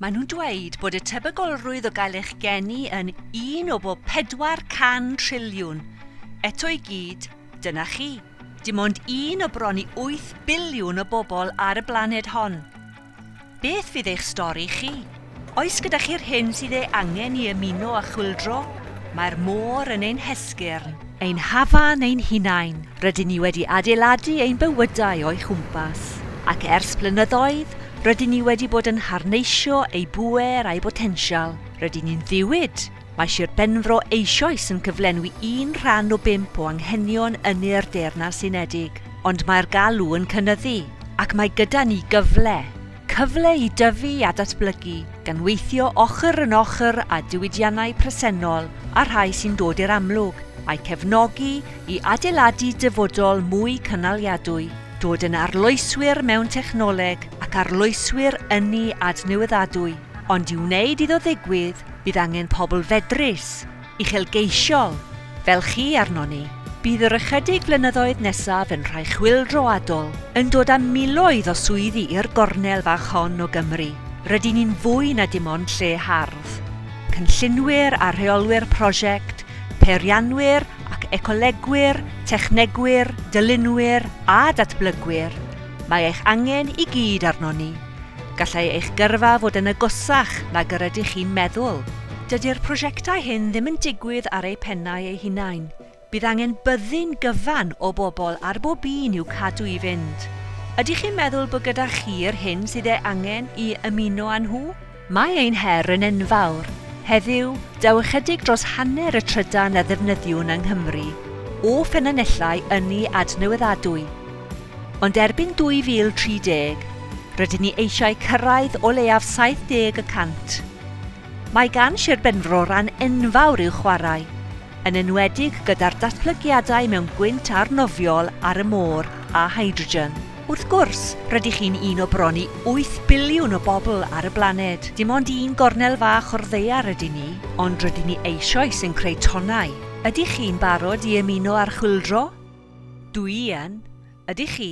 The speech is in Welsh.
Maen nhw'n dweud bod y tebygolrwydd o gael eich geni yn un o bob 400 triliwn. Eto i gyd, dyna chi. Dim ond un o bron i 8 biliwn o bobl ar y blaned hon. Beth fydd eich stori chi? Oes gyda chi'r hyn sydd ei angen i ymuno â chwyldro? Mae'r môr yn ein hesgyrn. Ein hafan ein hunain, rydyn ni wedi adeiladu ein bywydau o'i chwmpas, ac ers blynyddoedd, rydyn ni wedi bod yn harneisio ei bŵer a'i botensial. Rydyn ni'n ddiwyd! Mae Sir Benfro eisoes yn cyflenwi un rhan o bump o anghenion ynni'r Deyrnas Unedig, ond mae'r galw yn cynyddu, ac mae gyda ni gyfle. Cyfle i dyfu a datblygu, gan weithio ochr yn ochr â diwydiannau presennol a rhai sy'n dod i'r amlwg, a'u cefnogi i adeiladu dyfodol mwy cynaliadwy, dod yn arloeswyr mewn technoleg ac arloeswyr ynni adnewyddadwy, ond i wneud iddo ddigwydd, bydd angen pobl fedrus, uchelgeisiol fel chi arnon ni. Bydd yr ychydig flynyddoedd nesaf yn rhai chwyldroadol, yn dod â miloedd o swyddi i'r gornel fach hon o Gymru. Rydyn ni'n fwy na dim ond lle hardd. Cynllunwyr a rheolwyr prosiect, peirianwyr ac ecolegwyr, technegwyr, dylunwyr a datblygwyr, mae eich angen i gyd arnon ni. Gallai eich gyrfa fod yn agosach nag yr ydych chi'n meddwl. Dydy'r prosiectau hyn ddim yn digwydd ar eu pennau eu hunain, bydd angen byddin gyfan o bobl ar bob un i'w cadw i fynd. Ydych chi'n meddwl bod gyda chi'r hyn sydd ei angen i ymuno â nhw? Mae ein her yn enfawr. Heddiw, daw ychydig dros hanner y trydan a ddefnyddiwn yng Nghymru o ffynonellau ynni adnewyddadwy. Ond erbyn 2030, rydyn ni eisiau cyrraedd o leiaf 70 y cant. Mae gan Sir Benfro ran enfawr i'w chwarae. yn enwedig gyda'r datblygiadau mewn gwynt arnofiol ar y môr a hydrogen. Wrth gwrs, rydych chi'n un o bron i wyth biliwn o bobl ar y blaned, dim ond un gornel fach o'r ddaear ydyn ni, ond rydyn ni eisoes yn creu tonnau. Ydych chi'n barod i ymuno â'r chwyldro? Dw i yn. Ydych chi?